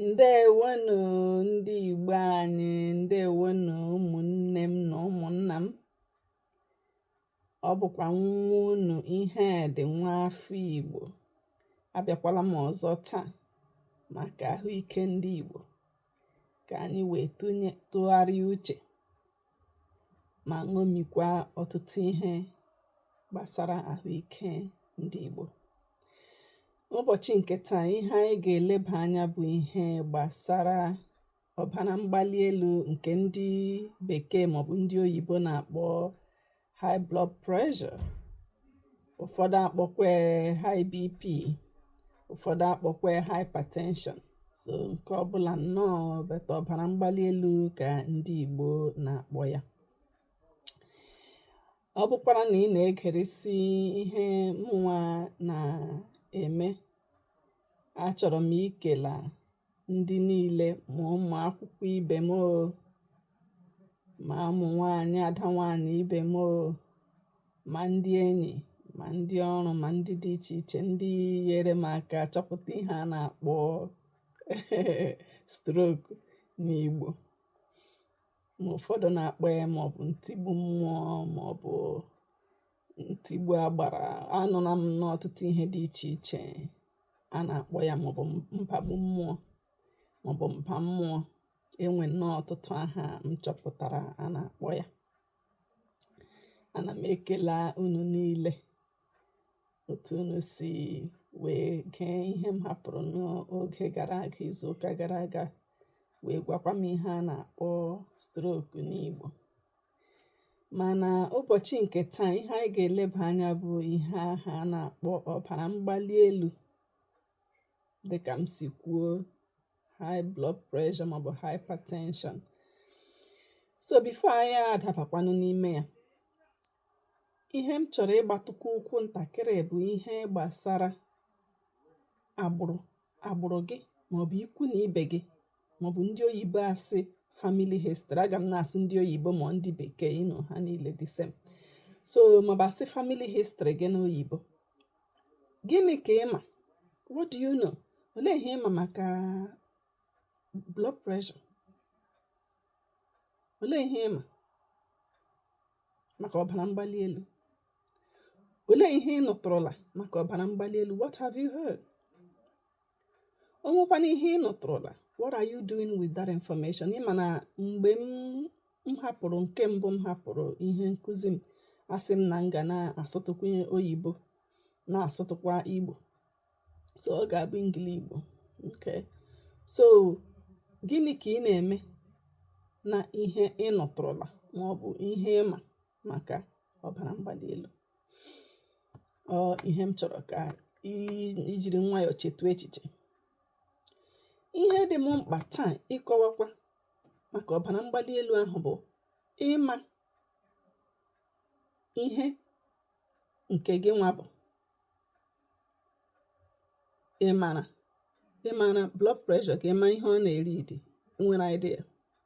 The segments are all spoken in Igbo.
ǹdeèwonù ndị ìgbo anyị ǹdeèwonù ụmụ̀nnė m nà ụmụ̀nnà m ọ bụ̀kwà nwa unù Ihedị̀ nwa afọ ìgbò abịakwala m ọ̀zọ taa màkà àhụ ikė ndị ìgbò kà ànyị wèe tụgharịa uchè ma ṅomikwa ọtụtụ ihe gbasara ahụ ike ndị Igbo ụbọchị nke taa ihe anyị ga-eleba anya bụ ihe gbasara ọbara mgbali elu nke ndị bekee maọbụ ndị oyibo na-akpọ high blood pressure ụfọdụ akpọkwa ya high bp ụfọdụ akpọkwa ya hypertension so nke ọbụla nnọọ but ọbara mgbali elu ka ndị Igbo na-akpọ ya ọ bụkwara na ị na-egeresi ihe mụnwa na-eme achọrọ m ikela ndị niile ma ụmụ akwụkwọ ibe m oo ma ụmụ nwaanyị ada nwaanyị ibe m oo ma ndị enyi ma ndị ọrụ ma ndị dị iche iche ndị nyere m aka chọpụta ihe a na-akpọ stroke n'Igbo ma ụfọdụ na-akpọ ya maọbụ ntigbu mmụọ maọbụ Ntigbu agbara anụla m n'ọtụtụ ihe dị iche iche a na-akpọ ya maọbụ mbagbu mmụọ maọbụ mba mmụọ enwe nnọọ ọtụtụ aha m chọpụtara a na-akpọ ya ana m ekele unu niile otu unu si wee gee ihe m hapụrụ n'oge gara aga izu ụka gara aga wee gwakwa m ihe a na-akpọ stroke n'Igbo Mana ụbọchị nke taa ihe anyị ga-eleba anya bụ ihe ahụ a na-akpọ ọbara mgbali elu dịka m si kwuo high blood pressure maọbụ hypertension so before anyị adabakwanụ n'ime ya ihe m chọrọ ịgbatụkwu ụkwụ ntakịrị bụ ihe gbasara agbụrụ agbụrụ gị maọbụ ikwu na ibe gị maọbụ ndị oyibo asị family history aga m na-asị ndị oyibo ma ndị bekee you know ha niile the same so maọbụ asị family history gị na oyibo gịnị ka ị ma what do you know olee ihe ị ma maka blood pressure olee ihe ị ma maka ọbara mgbali elu Olee ihe ị nụtụrụla maka ọbara mgbali elu? What have you heard? O nwekwanụ ihe ị nụtụrụla? What are you doing with that information? Ị ma na mgbe m hapụrụ nke mbụ m hapụrụ ihe nkụzi m asị m na m ga na-asụtụkwa oyibo na-asụtụkwa Igbo so ọ ga-abụ Engli-Igbo okay so gịnị ka ị na-eme na ihe ị nụtụrụla ma ọ bụ ihe ị ma maka ọbara mgbali elu ọ ihe m chọrọ ka i jiri nwayọọ chetu echiche ihe dị m mkpa taa ịkọwakwa maka ọbara mgbali elu ahụ bụ ịma ihe nke gị nwa bụ ịmara ịmara blood pressure gị ịma ihe ọ na-eread i nwere idea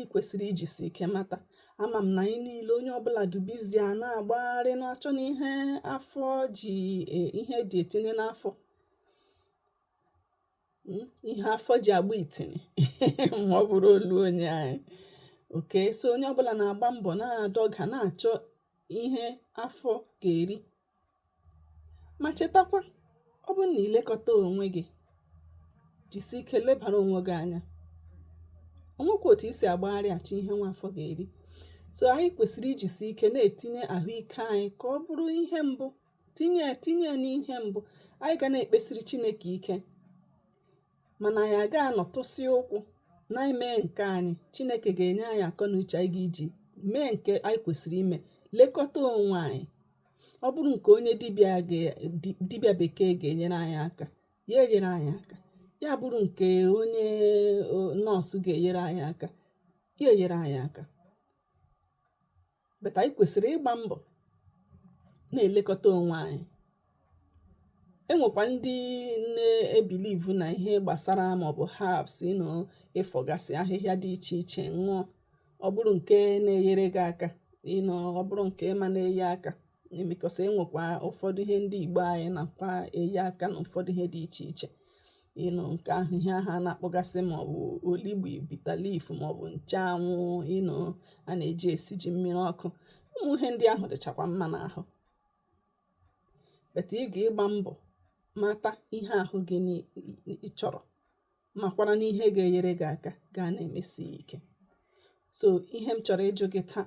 i kwesịrị ijisi ike mata ama m na anyị niile onye ọbụla dị busy a na-agbagharị na-achọ na ihe afọ ji e, ihe dị etinye n'afọ hmm, ihe afọ ji agba itinye ma ọ bụrụ olu onye anyị okay so onye ọbụla na-agba mbọ na-adọga na-achọ ihe afọ ga-eri Ma chetakwa, ọ bụrụ na ị lekọta onwe gị, jisi ike lebara onwe gị anya. O nwekwa otu i si agbagharị achọ ihe nwa afọ ga-eri. So anyị kwesịrị ijisi ike na-etinye ahụike anyị ka ọ bụrụ ihe mbụ, tinye ya tinye ya n'ihe mbụ. Anyị ga na-ekpesiri Chineke ike. mana anyị aga anọtụsị ụkwụ na ime nke anyị chineke ga-enye anyị akọ na uche anyị ga-eji mee nke anyị kwesịrị ime lekọta onwe anyị ọ bụrụ nke onye dibịa bekee ga-enyere anyị aka ya enyere anyị aka ya bụrụ nke onye nọọsụ ga-enyere anyị aka ya enyere anyị aka but anyị kwesịrị ịgba mbọ na-elekọta onwe anyị enwekwa ndị na-ebelieve na ihe gbasara maọbụ herbs you know ịfọgasị ahịhịa dị iche iche ṅụọ ọ bụrụ nke na-enyere gị aka you know ọ bụrụ nke ị ma na-enye aka because enwekwa ụfọdụ ihe ndị igbo anyị nakwa enye aka na ụfọdụ ihe dị iche iche you know nke ahụ ihe ahụ a na-akpọgasị ma ọ bụ olugbu bitter leaf ma ọ bụ ncheanwụ you know a na-eji esi ji mmiri ọkụ ụmụ ihe ndị ahụ dịchakwa mma n'ahụ but ị ga-ịgba mbọ mata ihe ahụ gị chọrọ makwara n'ihe ga-enyere gị aka gaa na-emesi ya ike so ihe m chọrọ ịjụ gị taa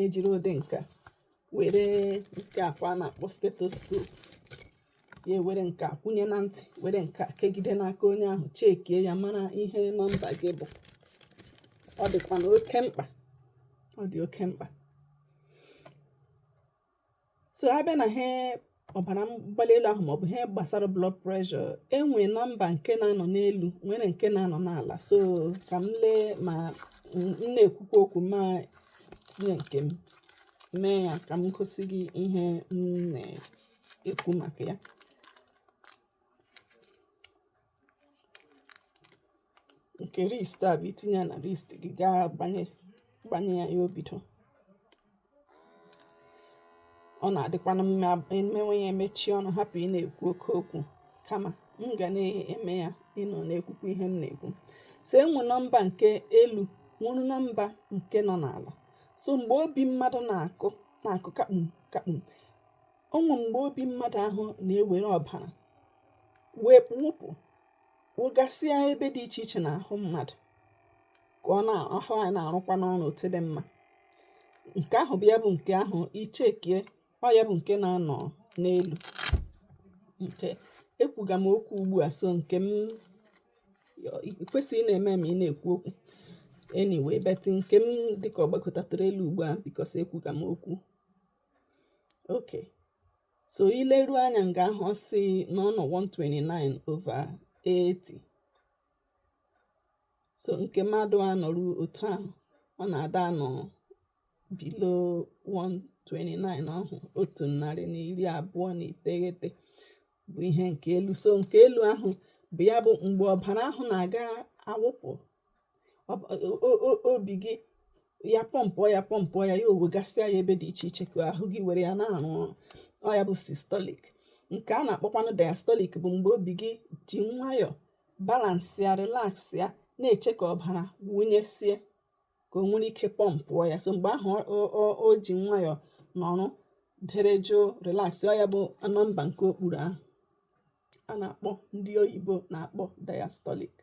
ejiri ụdị nke a were nke a kwa a na-akpọ stethoscope ya were nke a kwụnye na ntị were nke a kegide n'aka onye ahụ chekie ya mara ihe nọmba gị bụ ọ dịkwanụ oke mkpa ọ dị oke mkpa so a bịa nà ihe ọ̀bàrà mgbali elu̇ ahụ̀ màọ̀bụ̀ ihe gbàsara blood pressure e nwè number ǹke na-anọ̀ n'elu̇ nwere ǹke na-anọ̀ n'àlà so kà m lee mà m na-èkwukwa okwu̇ ma tinye ǹkè m mee ya kà m gosi gị ihe m nà-èkwu màkà ya ǹkè wrist à bụ̀ itinye ya nà wrist gị gaa gbanye ya o bido ọ nà-àdịkwanụ mma e mewe ya e mechie ọnụ hapụ̀ ị na-èkwu oke okwu̇ kamà m gà na-eme ya ị nọ̀ na-ekwukwa ihe m nà-èkwu sò enwè nọmba ǹke elu̇ nwere nọmba ǹke nọ n'àlà so m̀gbè obi mmadụ̇ nà-àkụ kàkpùm kàkpùm o nwe mgbe obi mmadụ ahụ na-ewere ọbara wụpụ wụgasịa ebe dị iche iche n'ahụ mmadụ ka ahụ anyị na-arụkwanụ ọrụ otu dị mma nke ahụ bụ ya bụ nke ahụ i chekie ọ ya bụ nke na-anọ n'elu nke ekwuga m okwu ugbu a so nke m kwesịrị na-eme ma ị na-ekwu okwu anyway but nke m dịka ọ gbagotara elu ugbu a because ekwuga m okwu okay so i leruo anya nga ahụ ọ sị na ọ nọ 129 over 80 so nke mmadụ a nọrụ otu ahụ ọ na-ada anọ below 129 ahụ otu narị na iri abụọ na iteghete bụ ihe nke elu so nke elu ahụ bụ ya bụ mgbe ọbara ahụ na-aga awụpụ obi gị ya pọmpụọ ya pọmpụọ ya ya ewegasịa ya ebe dị iche iche ka ahụ gị were ya na-arụ ọrụ ọ ya bụ systolic nke a na-akpọkwanụ diastolic bụ mgbe obi gị ji nwayọọ balansị ya relax ya na-eche ka ọbara wụnyesie ka o nwere ike pọmpụọ ya so mgbe ahụ o ji nwayọọ nọrọ dere jụụ relax ọ ya bụ nọmba nke okpuru ahụ a na-akpọ ndị oyibo na-akpọ diastolic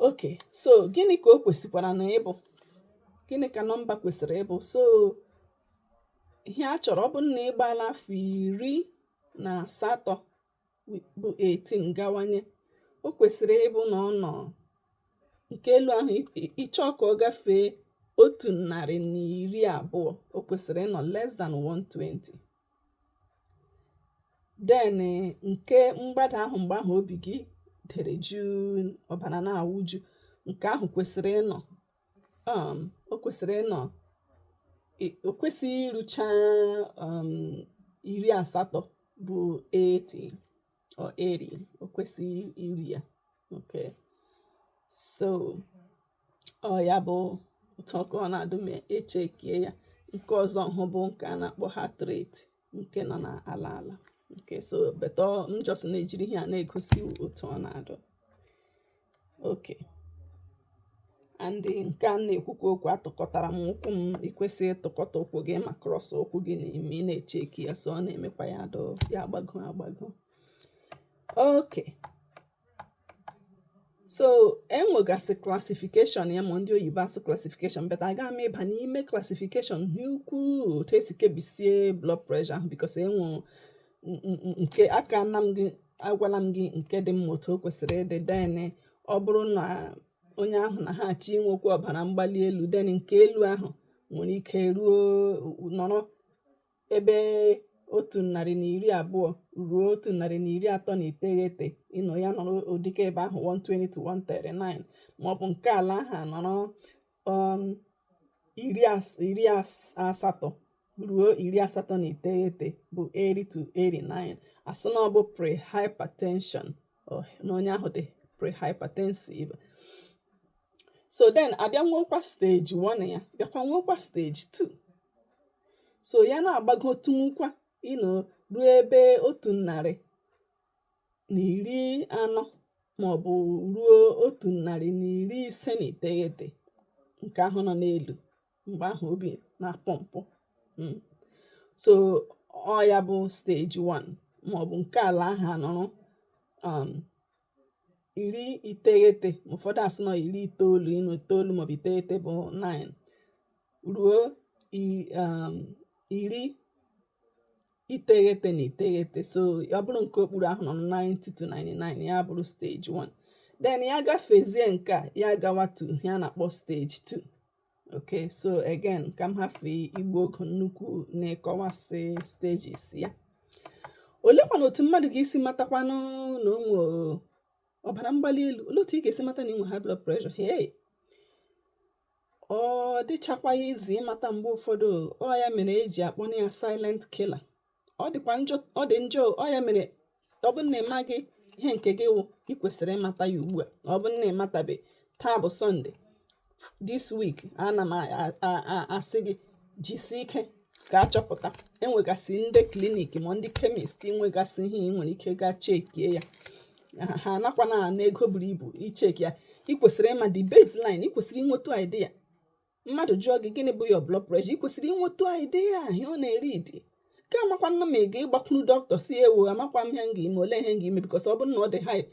okay so gịnị ka o kwesịkwaranụ ịbụ gịnị ka nọmba kwesịrị ịbụ so ihe a chọrọ ọ bụ na ị gbaala afọ iri na asatọ bụ 18 gawanye o kwesịrị ịbụ na ọ nọ nke elu ahụ ị chọọ ka ọ gafee otu narị na iri abụọ o kwesịrị ịnọ less than 120 then nke mgbada ahụ mgbe ahụ obi gị dere juu ọbara na-awụju nke ahụ kwesịrị ịnọ um o kwesịrị ịnọ o kwesịghị irucha um iri asatọ bụ 80 or 80 o kwesịghị iru ya okay so ọ ya bụ otu ọkụ ọ na-adụ ma echekie ya nke ọzọ hụ bụ nke a na-akpọ heart rate nke nọ n'ala ala okay so but m just na-ejiri ihe a na-egosi otu ọ na-adụ okay and nke a na-ekwukwa okwu atụkọtara m ụkwụ m i kwesịghị ịtụkọta ụkwụ gị ma cross ụkwụ gị ma ị na-echeki ya so ọ na-emekwa ya dụ ya agbago agbago okay so e nwegasị classification ya ma ndị oyibo asụ classification but aga m ịba n'ime classification ha ukwuu otu esi kebisie blood pressure ahụ because e nwere nke aka na m gị agwala m gị nke dị mma otu o kwesịrị ịdị then ọ bụrụ na onye ahụ na ha achọ inwekwa ọbara mgbali elu then nke elu ahụ nwere ike ruo nọrọ ebe otu narị na iri abụọ ruo otu narị na iri atọ na iteghete you know ya nọrọ ụdịka ebe ahụ 120 to 139 maọbụ nke ala ahụ nọrọ um, iri asatọ ruo iri asatọ na iteghete bụ 80 to 89 asị na ọ bụ prehypertension oh, na onye ahụ dị prehypertensive so then abịa nwekwa stage 1 ya bịakwa nwekwa stage 2 so ya na-agbagotunwukwa you know ruo ebe otu narị na iri anọ maọbụ ruo otu narị na iri ise na iteghete nke ahụ nọ n'elu mgbe ahụ obi na-apọmpụ hmm. so ọ ya bụ stage 1 maọbụ nke ala ahụ anọrọ um, iri iteghete ụfọdụ asị na ọ iri itoolu you know itoolu maọbụ iteghete bụ 9 ruo um, iri iteghete na iteghete so ọ bụrụ nke okpuru ahụ nọ 90 to 99 ya bụrụ stage 1 then ya gafezie nke a ya gawa to ihe a na-akpọ stage 2 okay so again ka m hafụ igbu oge nnukwu n'ịkọwasị stages ya olekwanụ otu mmadụ ga-esi matakwanụ na o nwe ọbara mgbali elu olee otu ị ga-esi mata na i nwe high blood pressure hey ọ dịchakwaghị easy ịmata mgbe ụfọdụ ọ ya mere eji akpọ ya silent killer ọ dịkwa njọ ọ dị njọ ọ ya mere ọ bụrụ na ị maghị ihe nke gị wụ ị kwesịrị ịmata ya ugbu a ọ bụrụ na ị matabe taa bụ Sunday this week ana m asị gị jisi ike ka achọpụta e nwegasị ndị clinic ma ndị chemist nwegasị ihe ị nwere ike gaa chekie ya ha anakwa ana ego buru ibu icheki ya ị kwesịrị ịma the baseline ị kwesịrị inwetu idea mmadụ jụọ gị gịnị bụ your blood pressure ị kwesịrị inwetu idea ihe ọ na-eriidi ka a makwanụ ma ị ga-agbakwuru dọkịta sị ewu amakwa m ihe m ga-eme ole ihe m ga-eme because ọ bụrụ na ọ dị high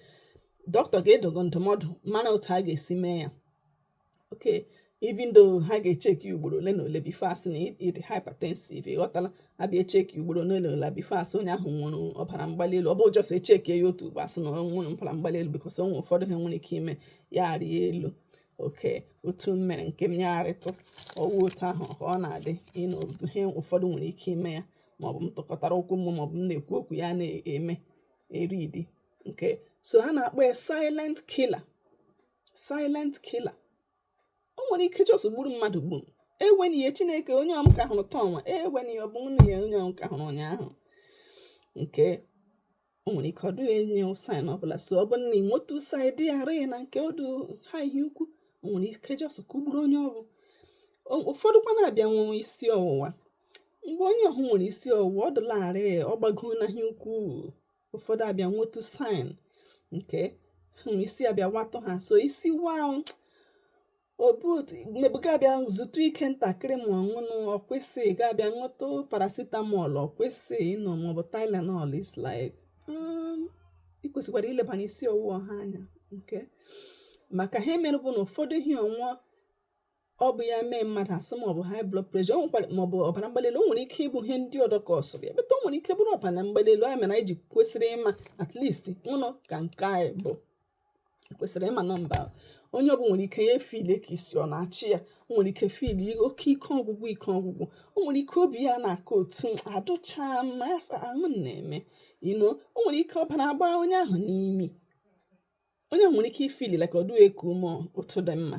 dọkịta ga-adụ gị ndụmọdụ mana otu a ga-esi mee ya okay even though ha ga-echeki ugboro ole na ole before a sị na ị dị hypertensive ị ghọtala a bịa echeki ugboro ole na ole before a sị onye ahụ nwere ọbara mgbali elu ọ bụ just echeki ya otu ugbo a sị na o nwere ọbara mgbali elu because o nwere ụfọdụ ihe nwere ike ime ya arịa elu okay otu m mere nke m ya arịtụ ọ wụ otu ahụ ka ọ na-adị you know ihe ụfọdụ nwere ike ime ya maọbụ m tụkọtara ụkwụ m maọbụ m na-ekwu okwu ya na-eme eridi okay so ha na-akpọ ya silent killer silent killer o nwere ike just gburu mmadụ gburu eweni ya Chineke onye ọ m ka hụrụ taa nwa eweni ya ọ bụnụ onye ọ m ka hụrụ ụnyaahụ okay o nwere ike ọ dụ enye sign ọbụla so ọ bụrụ na ị nwetu sign dị ghara na nke ọ dụ high ihe ukwu o nwere ike just kugburu onye ọ bụ ụfọdụkwa na-abịa nwee isi ọwụwa mgbe onye ọhụ nwere isi ọwụwa ọ dụlarị ọ gbagola ihe ukwu ụfọdụ abịa nwetu sign nke ahụ isi abịa watụ ha so isi wa maybe ga-abịa zutụ ike ntakịrị ma you know ọ kwụsị ga-abịa ṅụtụ paracetamol ọ kwụsị you know maọbụ tylenol it's like um, ị kwesịkwara ilebanye isi ọwụwa ahụ anya okay maka ihe mere bụ na ụfọdụ isi ọwụwa bịa mee mmadụ asị m ọ bụ high blood pressure o nwekwara maọbụ ọbara mgbali elu o nwere ike ịbụ ihe ndị ọdọ kọsụrụ ya but o nwere ike bụrụ ọbara mgbali elu ya mere anyị ji kwesịrị ịma at least ụnụ ka nke anyị bụ e kwesịrị ịma nọmba ahụ. Onye ọbụla nwere ike ya efili ka isi ọ na-achị ya. O nwere ike fili oke ike ọgwụgwụ ike ọgwụgwụ. O nwere ike obi ya na-akụ otu adụcha mma ya sị ahụ m na-eme. You know, o nwere ike ọbara agbaa onye ahụ n'imi. Onye ahụ nwere ike ifili like ọ dịghị eku ume otu dị mma.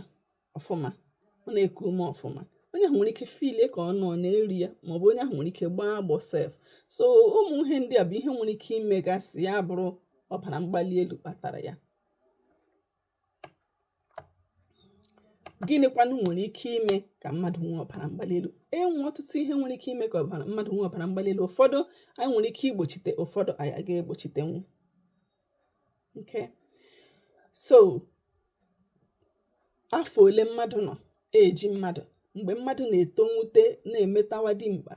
ọfụma ọ na-eku ume ọfụma onye ahụ nwere ike fili ka ọ nọ na-eri ya maọbụ onye ahụ nwere ike gbaa agbọ sef so ụmụ ihe ndị a bụ ihe nwere ike imegasị ya bụrụ ọbara mgbali elu kpatara ya gịnịkwanụ nwere ike ime ka mmadụ nwee ọbara mgbali elu e nwe ọtụtụ ihe nwere ike ime ka mmadụ nwee ọbara mgbali elu ụfọdụ anyị nwere ike igbochite ụfọdụ anyị aga egbochitenwu okay so afọ ole mmadụ nọ eji mmadụ mgbe mmadụ na-etowute na-emetawa dimkpa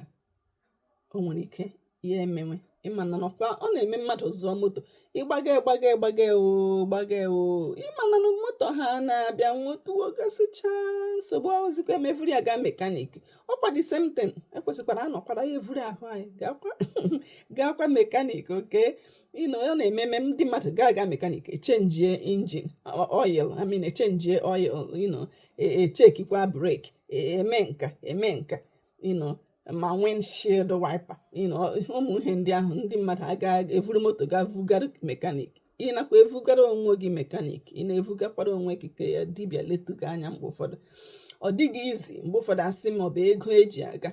o nwere ike ya emewe ịma na nọkwa ọ na-eme mmadụ zụọ moto ịgbaga ịgbaga ịgbaga o gbaga o ịma na na moto ha na-abịa nwetụgasịcha nsogbu ahụzikwa emevuru ya gaa mekanik ọkwa the same thing ekwesịkwara anọkwara ya evuru ahụ anyị gaakwa gaakwa mekanik okay ị nọ ya na-ememe ndị mmadụ ga-aga mekanik echenjie engine oil I mean echenjie oil you know echekikwa e brake e, emee nke a emee nke a you know ma windshield wiper you know ụmụ ihe ndị ahụ ndị mmadụ aga evuru moto ga vugara mekanik ị nakwa evugara onwe gị mekanik ị na-evugakwara onwe gị ka ya dibịa letụ gị anya mgbe ụfọdụ ọ dịghị easy mgbe ụfọdụ asị ma ọ bụ ego eji aga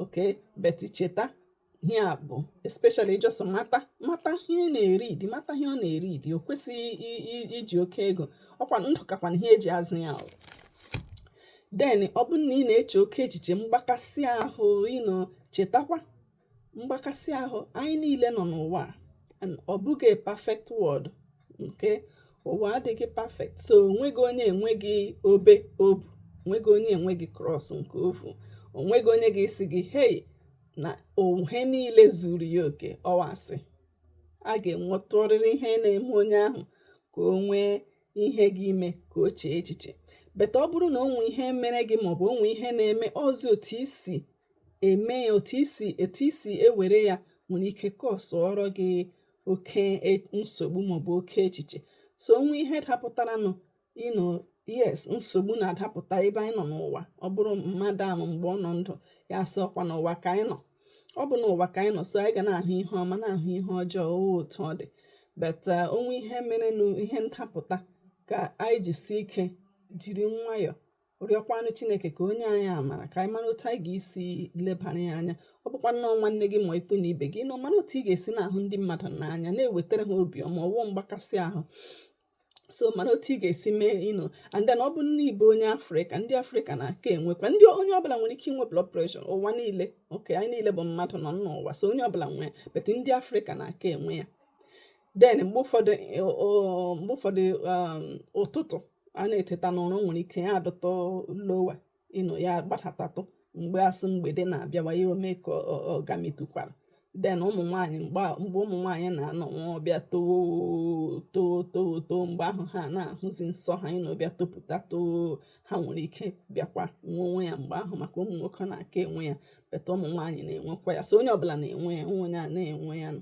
okay but cheta ihe a bụ especially just mata mata ihe na-eridi mata ihe ọ na-eridi o kwesịghị iji oke ego ọkwa ndụ kakwa ihe eji azụ ya then ọ bụrụ na ị na-eche oke echiche mgbakasị ahụ you know chetakwa mgbakasị ahụ anyị niile nọ n'ụwa ọ bụghị perfect world nke ụwa adịghị perfect so onweghị onye enweghị obe o bu onweghị onye enweghị cross nke o vu onweghị onye ga-asị gị hei na ihe niile zuru ya oke ọ wụ asị a ga-enwetụrịrị ihe na-eme onye ahụ ka o nwee ihe ga-eme ka o chee echiche but ọ bụrụ na onwe ihe mere gị maọbụ onwe ihe na-eme ọzi otu i si eme ya otu i si etu i si ewere ya nwere ike kọsụọrọ gị oke e, nsogbu maọbụ oke echiche so onwe ihe dapụtaranụ you know yes nsogbu na-adapụta ebe anyị nọ n'ụwa ọ bụrụ mmadụ ahụ mgbe ọ nọ ndụ ya sị ọkwa n'ụwa ka anyị nọ ọ bụ n'ụwa ka anyị nọ so anyị ga na-ahụ ihe ọma na-ahụ ihe ọjọọ otu ọ dị but uh, onwe ihe merenụ ihe ndapụta ka anyị jisi ike jiri nwayọọ rịọkwanụ chineke ka o nye anyị amara ka anyị mara otu anyị ga-esi lebara ya anya ọ bụkwa na ọ nwanne gị ma ikwu na ibe gị you know mara otu ị ga-esi na-ahụ ndị mmadụ n'anya na-ewetara ha obiọma ọwụ mgbakasị ahụ so mara otu ị ga-esi mee you know and then ọ bụ na ị bụ onye afrịka ndị afrịka na-aka enwekwa ndị onye ọbụla nwere ike inwe blood pressure ụwa niile okay anyị niile bụ mmadụ nọ n'ụwa so onye ọbụla nwee ya but ndị afrịka na-aka enwe ya then mgbe ụfọdụ eh, mgbe ụfọdụ um, ụtụtụ a na-eteta n'ụra nwere ike ya adịtụ lower you know ya gbadatatụ mgbe asị mgbede na-abịawa ya eme ka ọ gamitụkwara then ụmụ nwaanyị mgbe ụmụ nwaanyị na-anọ nwa ọ bịa too too too too mgbe ahụ ha na-ahụzi nsọ ha you know ọ bịa topụta too ha nwere ike bịakwa nwewe ya mgbe ahụ maka ụmụ nwoke na-aka enwe ya but ụmụ nwaanyị na-enwekwa ya so onye ọbụla na-enwe ya onwe onye a na-enwe ya nọ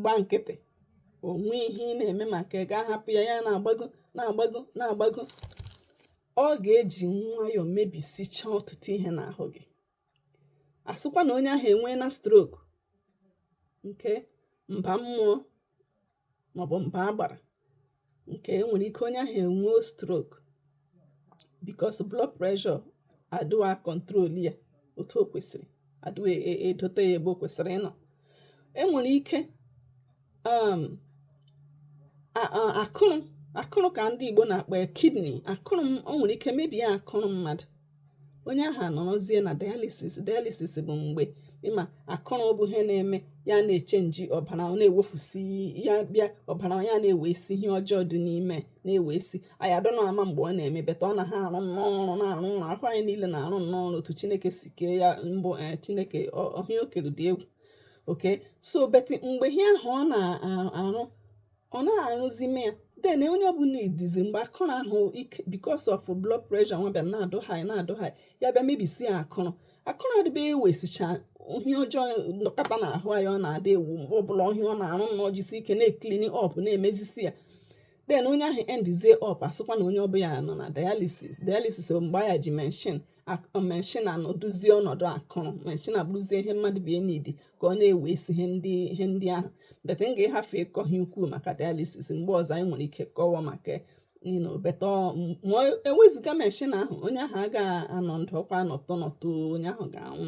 gba nkịtị o nwee ihe ị na-eme maka ị ga-ahapụ ya ya na-agbago na-agbago na-agbago ọ ga-eji nwayọọ mebisichaa ọtụtụ ihe n'ahụ gị a sịkwa na onye ahụ enwee na stroke nke mba mmụọ maọbụ mba agbara nke e nwere ike onye ahụ enwee stroke because blood pressure adịghị control ya otu o kwesịrị adịghị e, e, edote ya ebe o kwesịrị ịnọ e nwere ike um, akụrụ akụrụ ka ndị Igbo na-akpọ ya kidney akụrụ o nwere ike mebie akụrụ mmadụ onye ahụ anọrọzie na dialysis dialysis bụ mgbe ị ma akụrụ bụ ihe na-eme ya na-echenji ọbara ọ na-ewefusi ya bịa ọbara ya na-ewesi ihe ọjọọ dị n'ime na-ewesi anyị adị nnọọ mma mgbe ọ na-eme but ọ na ha arụ nnọọ ọrụ na-arụ ọrụ ahụ anyị niile na-arụ nnọọ ọrụ otu chineke si kee ya mbụ eh, chineke ihe o kere dị egwu okay so but mgbe ihe ahụ ọ na-arụ ọ naghị arụzi m ya then onye ọbụla idizi mgbe akụrụ ahụ ike because of blood pressure nwa bịa na-adụ high na-adụ high ya bịa mebisi ya akụrụ akụrụ adịbe ewesicha ihe ọjọọ nọkọta n'ahụ anyị ọ na-adị ewu mgbe ọbụla ihe ọ na-arụ nnọọ jisi ike na-eklini up na-emezisi ya then onye ahụ endizie up a sịkwa na onye ọ bụ ya nọ na dialysis dialysis bụ mgbe a ya-eji machine machine anọdụzie ọnọdụ akụrụ machine abụrụzie ihe mmadụ bie n'idi ka ọ na-ewesi ihe ndị ihe ndị ahụ but m ga-ahafe ịkọ ihe ukwuu maka dialysis mgbe ọzọ anyị nwere ike kọwa maka nino but ma ewezụga machine ahụ onye ahụ agaghị anọ ndụ ọ ga-anọtụ nọtụ onye ahụ ga-anwụ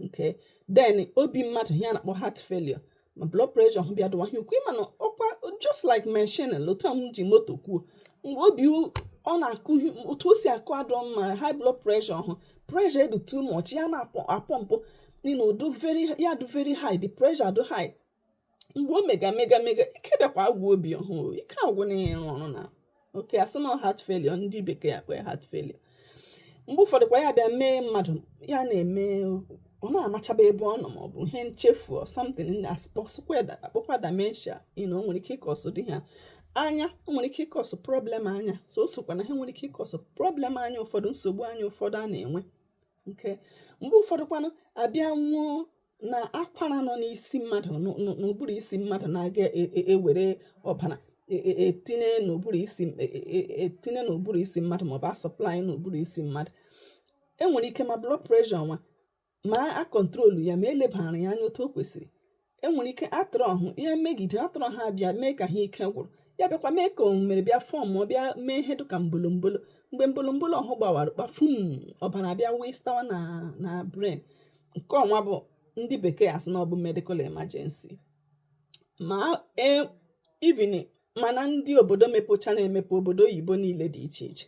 okay then obi mmadụ ihe a na-akpọ heart failure ma blood pressure ahụ bịa dụwa high ukwu ị ma na ọkwa just like machine like otu m ji moto kwuo mgbe obi ọ na-akụ otu o si akụ adụ mma high blood pressure ahụ pressure adụ too much ya na-apọmpụ n'ihi na ọ dụ very ya dụ very high the pressure dụ high mgbe o mega mega mega ike bịakwa agwụ obi ahụ ike agwụ na ịrụ ọrụ na okay a sị na heart failure ndị bekee ya-akpọ heart failure mgbe ụfọdụ kwa ya bịa mee mmadụ ya na-eme ọ na-amachaba ebe ọ nọ maọbụ ihe nchefu or something a kpọkwa dementia you know o nwere ike ịkọsụ dị ha anya o nwere ike ịkọsụ problem anya so o sokwa n'ihe nwere ike ịkọsụ problem anya ụfọdụ nsogbu anya ụfọdụ a na-enwe okay mgbe ụfọdụkwanụ a bịa nwee na akwara nọ n'isi mmadụ n'ụbụrụ isi mmadụ na-aga e, e, ewere ọbara etinye e, n'ụbụrụ isi etinye n'ụbụrụ isi mmadụ maọbụ asọplai n'ụbụrụ isi mmadụ e nwere ike ma blood pressure nwa ma a kọntrolu ya ma elebara ya anya otu o kwesịrị enwere ike artery ọhụ ya megide artery ha bịa mee ka ha ike gwụrụ ya bịakwa mee ka o mere bịa form ma ọ bịa mee ihe dịka mbolombolo mgbe mbolombolo ọhụ gbawara kpafum ọbara abịa wastewa na brain nke ọnwa bụ ndị bekee asị na ọ bụ medical emergency ma e, even ma na ndị obodo mepụchara emepe obodo oyibo niile dị iche iche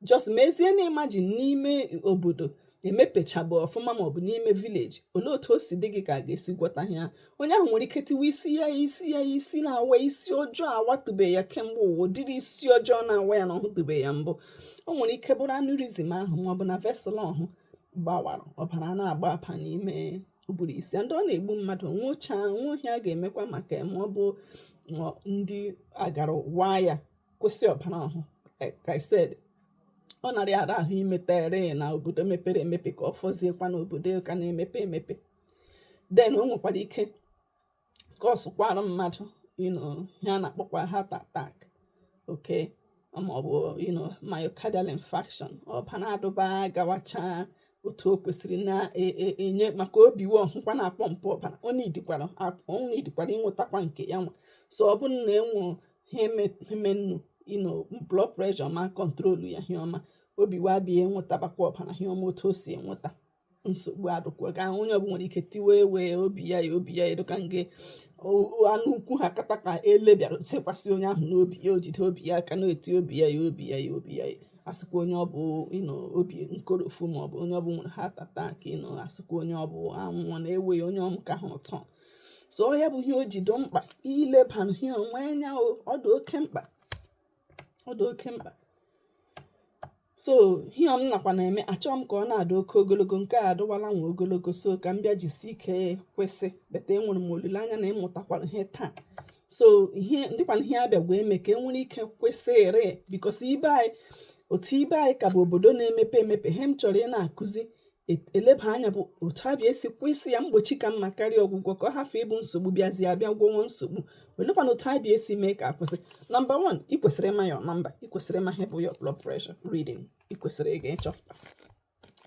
just mezie na imagine n'ime obodo emepechabụ ọfụma maọbụ n'ime village olee otu o si dị gị ka a ga-esi gwọta ya onye ahụ nwere ike tiwe isi ya isi ya isi na-awa isi ọjọọ awatụbe ya kemgbe ụwa ụdịrị isi ọjọọ na-awa ya na ọ hụtụbe ya mbụ o nwere ike bụrụ aneurysm ahụ maọbụ na vessel ọhụ gbawara ọbara na-agbaba n'ime ụbụrụ isi ndị ọ na-egbu mmadụ nwụchaa o nwehị ihe a ga-emekwa maka ma ọ bụ ndị agara waa ya kwụsị ọbara ahụ like I said ọ narị ara ahụ imetere na obodo mepere emepe ka ọ fọziekwa na obodo ka na-emepe emepe den o nwekwara ike kọsụkwara mmadụ you know ihe a na-akpọkwa heart attack okay maọbụ you know myocardial infarction ọbara adụba gawacha otu o kwesịrị na-enye e, e, maka obi wa ọhụkwa na-apọmpụ ọbara ọ nidikwara ịnwetakwa nke ya nwa so ọ bụrụ na enwe hemenụ you know blood pressure ma kọntrolu ya ihe ọma obi wa bịa enwetabakwa ọbara ihe ọma otu o si enweta nsogbu adụkwa ka onye ọbụla nwere ike tiwe ewe obi ya ya obi ya ya dịka nge anụ ukwu ha kata ka ele bịara sekwasị onye ahụ n'obi ya o jide obi ya aka na-eti obi ya ya obi ya ya obi ya asịkwa onye ọ bụ you know obi nkorofu maọbụ onye ọ bụ nwere heart attack you know asịkwa onye ọ bụ anwụọ na-ewe ya onye ọmụ ka ha ụtọ so ọ ya bụ ihe o ji dụ mkpa ilebara ihe ọnwa anya o ọ dị oke mkpa ọ dị oke mkpa so ihe m nakwa na-eme achọọ m ka ọ na-adị oke ogologo nke a adịwala nwa ogologo so ka m bịa jisi ike kwụsị but enwere m olileanya na ị mụtakwara ihe taa so ihe ndịkwana ihe a bịakwa eme ka e nwere ike kwụsịrị because ebe anyị otu ebe anyị ka bụ obodo na-emepe emepe ihe m chọrọ ị na-akụzi eleba anya bụ otu a bịa esi kwụsị ya mgbochi ka mma karịa ọgwụgwọ ka ọ hafụ ịbụ nsogbu bịazie a bịa gwọwa nsogbu olekwana otu a bịa esi mee ka a kwụsị number 1 ị kwesịrị ịma your number ị kwesịrị ịma ihe bụ your blood pressure reading ị kwesịrị ịga ịchọpụta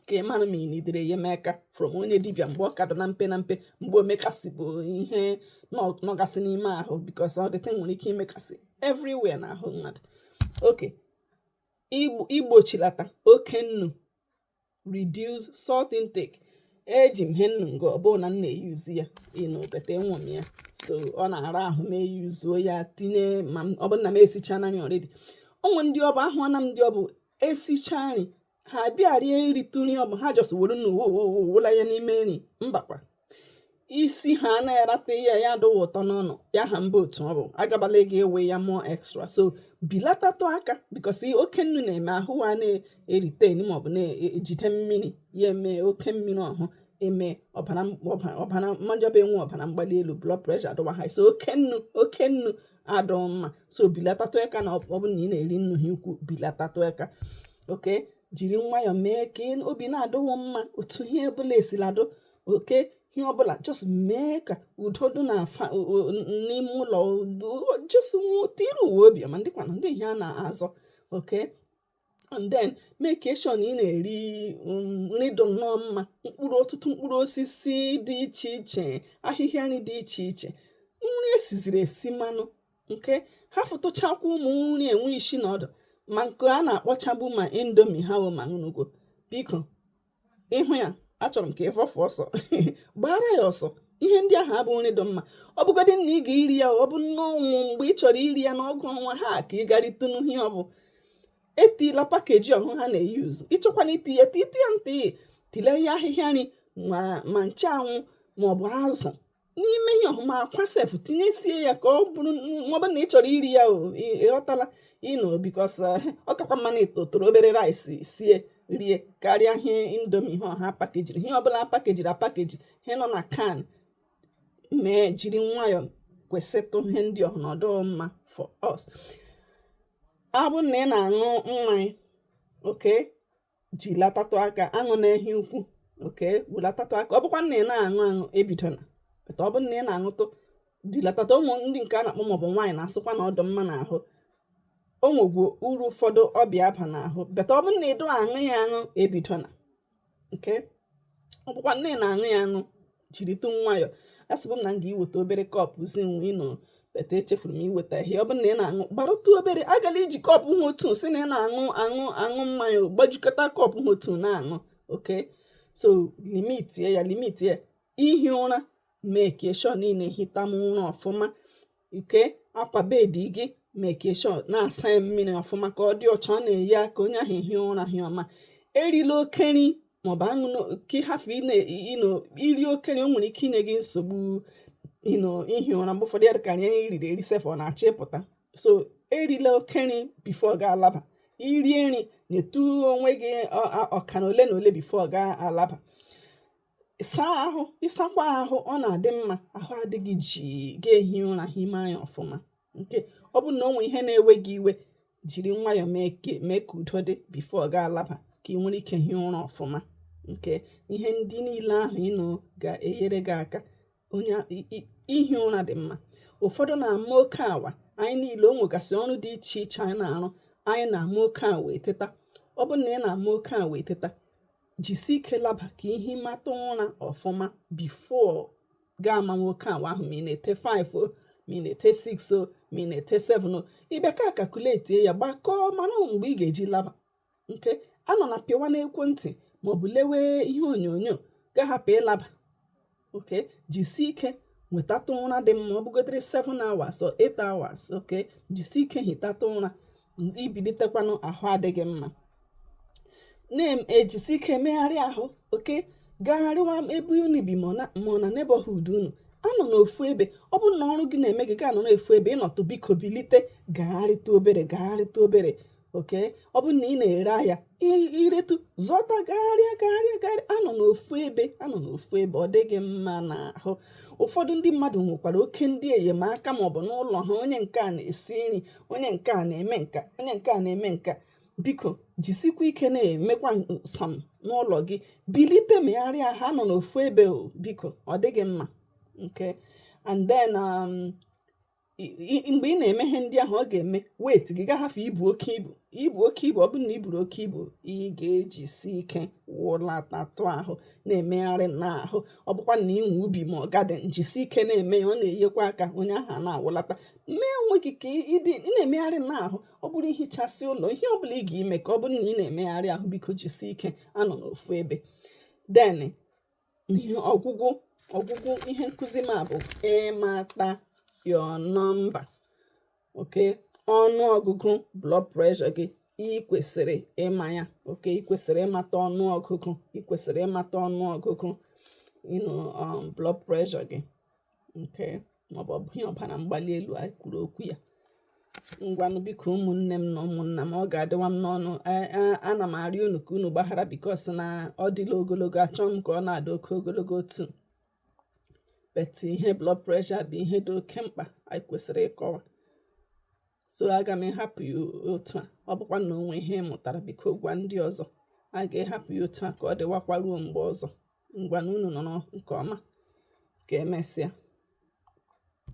ka ị mara ma ị nidere enyemaka from onye dibịa mgbe ọ ka dụ na mpe na mpe mgbe o mekasịbụ ihe nọgasị n'ime ahụ because ọ dịte nwere ike imekasị everywhere na ahụ mmadụ okay igbochilata oke nnu reduce salt intake eji m he nnu nga ọ bụ na m na-eyuzu ya you know but enwe m ya so ọ na-ara ahụ m eyuzuo ya tinye ma ọ bụrụ na m esichana nri already o nwe ndị ọbụ ahụna m ndị ọbụ esicha nri ha bịa rie ritụ nri ọbụ ha just were nnu wụla ya n'ime nri mbakwa isi ha na-erata ihe ya adịghị ụtọ n'ọnụ ya ha mba otu ọ bụ agabala gị ewe ya more extra so bilatatụ aka because oke nnu na-eme ahụ a na-eretain maọbụ na-ejide mmiri ya eme oke mmiri ọhụ eme ọbara mmanya bụ enwe ọbara mgbali elu blood pressure adụwa high so oke nnu oke nnu adụ mma so bilatatụ aka na ọ bụ na ị na-eri nnu ha ukwu bilatatụ aka okay jiri nwayọọ mee ka obi na-adịwo mma otu ihe ọbụla esiladụ okay ihe ọbụla just mee ka udo dị na afa n'ime ụlọ just tiri uwe obi ma ndị kwana ndị ihe a na-azọ okay and then make sure na ị na-eri um, nri dị nnọọ mma mkpụrụ ọtụtụ mkpụrụ osisi dị iche iche ahịhịa nri dị iche iche nri esiziri esi mmanụ nke hafụtụchakwa ụmụ nri enwe isi na ọdụ ma nke a na-akpọchabu ma indomie ha wụ ma ṅụnụgo biko ị hụ ya achọrọ m ka ị fọfụ ọsọ gbaara ya ọsọ ihe ndị ahụ abụ nri dị mma ọ bụgodị na ị ga-iri ya ọ bụ na o nwe mgbe ị chọrọ iri ya n'ọgụ ọnwa ha ka ị garịtụ n'ihe ọ bụ etila package ọhụ ha na-eyuzu ị chọkwanụ iti ya titụ ya ntị tile ya ahịhịa nri ma nchanwụ maọbụ azụ n'ime ihe ọhụ ma akwa sef tinyesie ya ka ọ bụrụ maọbụ na ị chọrọ iri ya ị ghọtala you know because eh, ọ kakwa mma na ị tụtụrụ obere rice sie rie karịa ihe indomie ihe ọhụ a pakejiri ihe ọbụla pakejiri apakeji ihe nọ na can mee jiri nwayọọ kwụsịtụ ihe ndị ọhụ adụ mma for us ọ bụ na ị na-aṅụ mmanya okay jilatatụ aka aṅụna ehi ukwu okay welatatụ aka ọ bụkwa na ị na-aṅụ aṅụ ebidola ọ bụ na ị na-aṅụtụ bilatatụ ụmụ ndị nke a na-akpọ maọbụ wine a na-asịkwa na ọ dụ mma n'ahụ o nwegwu uru ụfọdụ ọ bịa aba n'ahụ but ọ bụ na ị dụ aṅụ ya aṅụ ebidola okay ọ bụkwa na ị na-aṅụ ya aṅụ jiritụ nwayọọ asịbụ m na m ga-iweta obere cup zi unu but echefuru m iweta ihe ọ bụrụ na ị na-aṅụ gbarụtụ obere agala iji cup ha otu si na ị na-aṅụ aṅụ aṅụ mmanya gbajukọta cup ha otu na-aṅụ okay so limitie ya limitie ihi ụra make sure na ị na-ehita ụra ọfụma okay akwa bed gị make sure na-asa ya mmiri ọfụma ka ọ dị ọcha ọ na-enye aka onye ahụ ehi ụra hie ọma erila oke nri maọbụ aṅụ ka ị hafụ iri oke nri o nwere ike inye gị nsogbu you know ihi ụra mgbe ụfọdụ ya dịka anyị riri eri sef ọ na-achọ ịpụta so erila oke nri before gị alaba i rie nri nyetụ onwe gị ọka na ole na ole before gị alaba saa ahụ ịsakwa ahụ ọ na-adị mma ahụ adị gị jii gị ehi ụra himie anya ọfụma okay ọ bụ na o nwe ihe na-ewe gị iwe jiri nwayọọ mee ka mee ka udo dị before gị alaba ka ị nwere ike hie ụra ọfụma okay ihe ndị niile ahụ ị nọ ga-enyere gị aka onye ihi ụra dị mma ụfọdụ na-ama oke awa anyị niile o nwegasị ọrụ dị iche iche anyị na-arụ anyị na-ama oke awa eteta ọ bụrụ na ị na-ama oke awa eteta jisi ike laba ka i himata ụra ọfụma before gị ama oke awa ahụ ma ị na-ete 5 o ma ị na-ete 6 o ma ị na-ete 7 o ị bịa ka kakuletie ya gbakọọ mara mgbe ị ga-eji laba okay anọna pịwa n'ekwentị maọbụ lewe ihe onyonyo gị ahapụ ịlaba okay jisie ike nwetatụ ụra dị mma ọ bụgodịrị 7 hours or 8 hours okay jisie ike hitatụ ụra i bilitekwanụ ahụ adị gị mma na-ejisi ike emegharị ahụ okay gagharịwa ebe unu bi ma ọ na neighborhood unu anọna ofu ebe ọ bụrụ na ọrụ gị na-eme gị ga-anọ n'ofu ebe ị nọtụ biko bilite gagharịta obere gagharịta obere okay ọ bụrụ na ị na-ere ahịa i retụ zọta gagharịa gagharịa gagharịa anọna ofu ebe anọna ofu ebe ọ dịghị mma n'ahụ ụfọdụ ndị mmadụ nwekwara oke ndị enyemaka maọbụ n'ụlọ ha onye nke a na-esi nri onye nke a na-eme nke a onye nke a na-eme nke a biko jisikwa ike na-emekwanụ some n'ụlọ gị bilite megharịa ahụ anọna ofu ebe o biko ọ dịghị mma okay and then um, mgbe ị na-eme ihe ndị ahụ ọ ga-eme weight gị gị ahafụ ibu oke ibu ibu oke ibu ọ bụrụ na i buru oke ibu ị ga-ejisi ike wụlatatụ ahụ na-emegharị n'ahụ ọ bụkwa na i nwe ubi ma ọ garden jisi ike na-eme ya ọ na-enyekwa aka onye ahụ na-awụlata mee onwe gị ka ị dị na-emegharị n'ahụ ọ bụrụ ihichasị ụlọ ihe ọ bụla ị ga-eme ka ọ bụrụ na ị na-emegharị ahụ biko jisi ike anọna ofu ebe then ihe ọgwụgwụ ọgwụgwụ ihe nkụzi m a bụ ịmata your number okay ọnụ ọgụgụ blood pressure gị ị kwesịrị ịma ya okay ị kwesịrị ịmata ọnụ ọgụgụ ị kwesịrị ịmata ọnụ ọgụgụ you know, um, blood pressure gị okay màọbụ̀ ọ̀bụghị ihe ọ̀bàrà mgbali elu̇ ànyị kwùrù okwu yȧ. Ngwanụ biko ụmụ̀nnė m nà ụmụ̀nnà m ọ gà-àdịwa m n'ọnụ a a anà m àrịọ unù kà unù gbàhara because nà ọ dịla ogologo àchọọ m kà ọ na-àdị oke ogologo otu̇ but ihe blood pressure bụ̀ ihe dị oke mkpà ànyị kwèsìrì ịkọwa. So a gà m ịhapụ̀ yà otu à ọ bụkwa nà o nwè ihe ị mụ̀tàrà bikò gwa ndị ọzọ. A gà m ịhapụ̀ yà otu à kà ọ dịwakwa ruo m̀gbè ọzọ. ngwanụ unu nọrọ nke ọma ka emesịa